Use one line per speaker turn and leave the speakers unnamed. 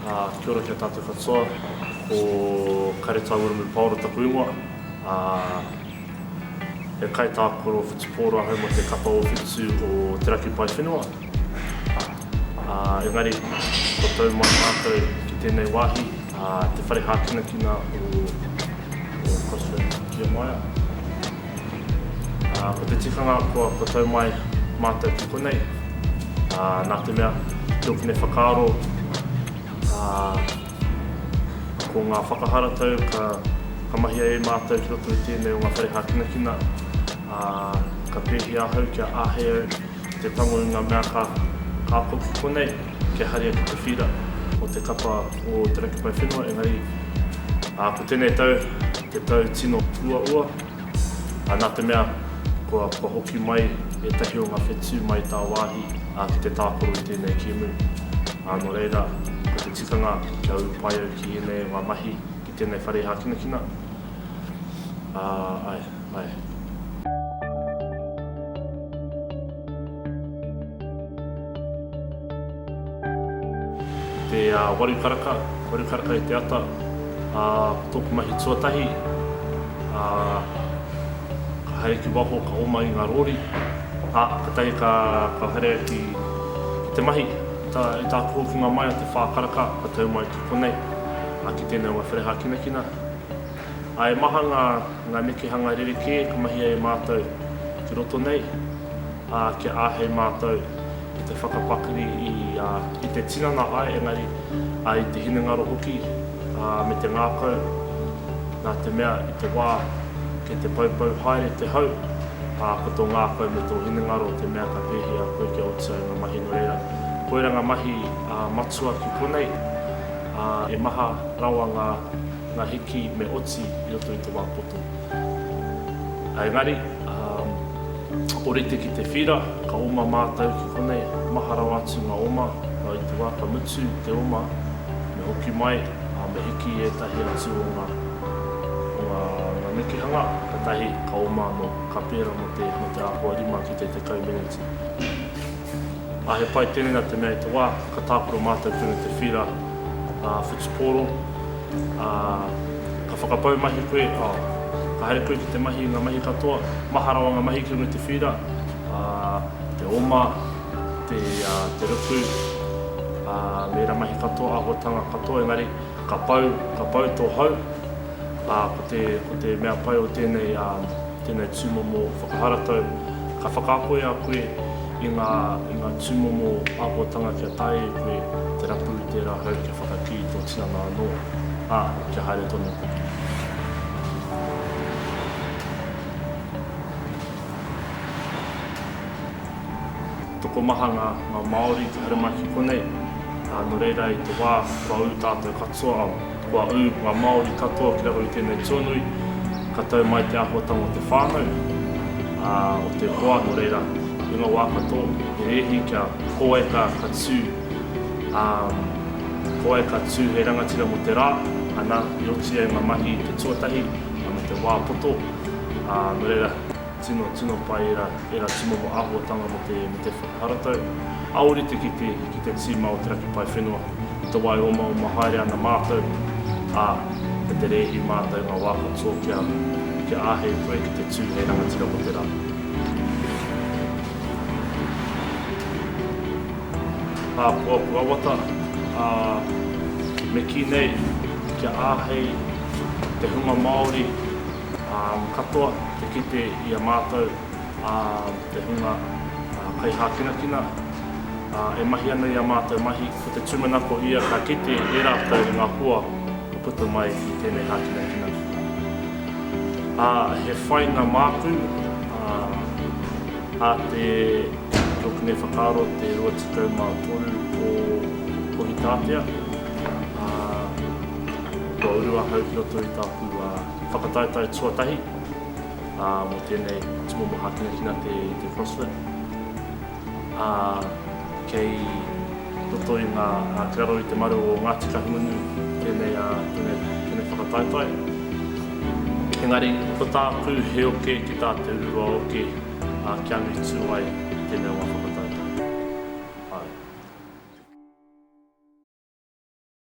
Kia ora ki a tātou katoa, ko Kare Tāwiramu Paora taku ingoa. He kaitākaro whutupō rāhau mō te kapa o Whetu o Te Raki Paewhenua. Engari, kua tau mai mātou ki tēnei wāhi, te whare hākinakina o Crossroads Kia Maia. Ko te tikanga kua tau mai mātou ki konei, nā te mea, ki ōku nei whakaaro, ko ngā whakaharatau ka mahia e mātou ki roto i tēnei o ngā whare hākinakina, ka pēhia ahau kia āhei au, Ki te tango i ngā mea ka ako ki konei, kia haere atu te whira o te kapa o Te Raki Pae Whenua, engari ko tēnei tau te tau tino uaua, nā te mea kua hoki mai ētahi o ngā whetū mai tāwāhi ki te tākaro i tēnei kēmu, nō reira ko te tikanga kia ū pai au ki ēnei o ngā mahi ki tēnei whare hākinakina. Āe. Te waru karaka, waru karaka i te ata, ā, ko tōku mahi tuatahi, ā, ka haere ki waho, ka oma i ngā rōri, ā, katahi ka, ka haere ki, ki te mahi. I tā, i tāku hokinga mai a te whā karaka, ka tau mai ki konei, ā, ki tēnei o ngā whare hākinakina, Ā, e maha ngā, ngā nekehanga rerekē ka mahia e Mātou ki roto nei, ā, kia āhei Mātou ki te whakapakari i, ā, i te tinana, āe, engari, ā, i te hinengaro hoki, ā, me te ngākau, nā te mea i te wā kei te poupou haere te hau, ā, ko tō ngākau me tō hinengaro te mea ka pēhia koe kia oti ai ngā mahi nō reira. Koirā ngā mahi, ā, matua ki konei, ā, e maha rawa ngā. Ngā hiki me oti i roto i te wā poto. Engari, orite ki te whira, ka oma mātou ki konei, maha rawa atu ngā oma, nā i te wā ka mutu te oma, me hoki mai, ā, me hiki i ētahi atu o ngā, o ngā, ngā nekehanga, katahi ka oma anō, ka pērā mō te, mō te āhua rima ki te tekau meneti. Ā, he pai tēnei nā te mea i te wā ka tākaro mātou tonu te whīra ā whutupōro, ā, ka whakapau mahi koe, ā, ka haere koe ki te mahi i ngā mahi katoa, maha rawa ngā mahi ki runga i te whīra, ā, te oma, te, ā, te ruku, ā, me ērā mahi katoa, āhuatanga katoa, engari, ka pau, ka pau tō hau. Ā, ko te, ko te mea pai o tēnei, ā, tēnei tūmomo whakaharatau, ka whakakoia koe i ngā, i ngā tūmomo āhuatanga kia taea e koe te rapu i tērā hau kia whakakī tō tinana anō, ā, kia haere tonu koe. Tokomaha ngā, ngā Māori te haramai ki konei, ā, nō reira i te wā kua ū tātou katoa, ā, Kua ū ngā Māori katoa ki raro i tēnei tuanui, ka tau mai te āhuatanga o te whānau, ā, o te hoa, nō reira, i ngā wā katoa, he rēhi kia ko wai ka, ka tū, ā, ko wai ka tū hei rangatira mō te rā, ana, i oti ai ngā mahi i te tuatahi, me te wā poto, ā, nō reira. Tino, tino pai era, era tumomo ahuatanga me te, me te whakaharatau. A orite ki te, ki te tima o te raki pae whenua, i te wae omaoma haere ana matou, a, me te reehi matou nga wa katoa kia, kia ahei koe ki te tu hei rangatira mo te ra. Apuapu awata, a, me ki nei, kia ahei te hunga Maori, Katoa te kite i a mātou te hunga kaihākinakina e mahi ana i ā mātou mahi. Ko te tūmanako ia ka kite e rātou i ngā hoa ka puta mai i tēnei hākinakina. Ā, he whainga māku a te Rokune Whakaaro te 23 o Kohitātea. Kua uru ahau ki roto i tāku whakataetae tuatahi mō tēnei tūmomo hākinakina te CrossFit. Kei roto i ngā, kei raro i te maru o Ngāti Kahungunu tēnei whakataetae. Engari, ko tāku he oke ki tā te urua oke kia angitu ai tēnei o ngā whakataetae. Āe.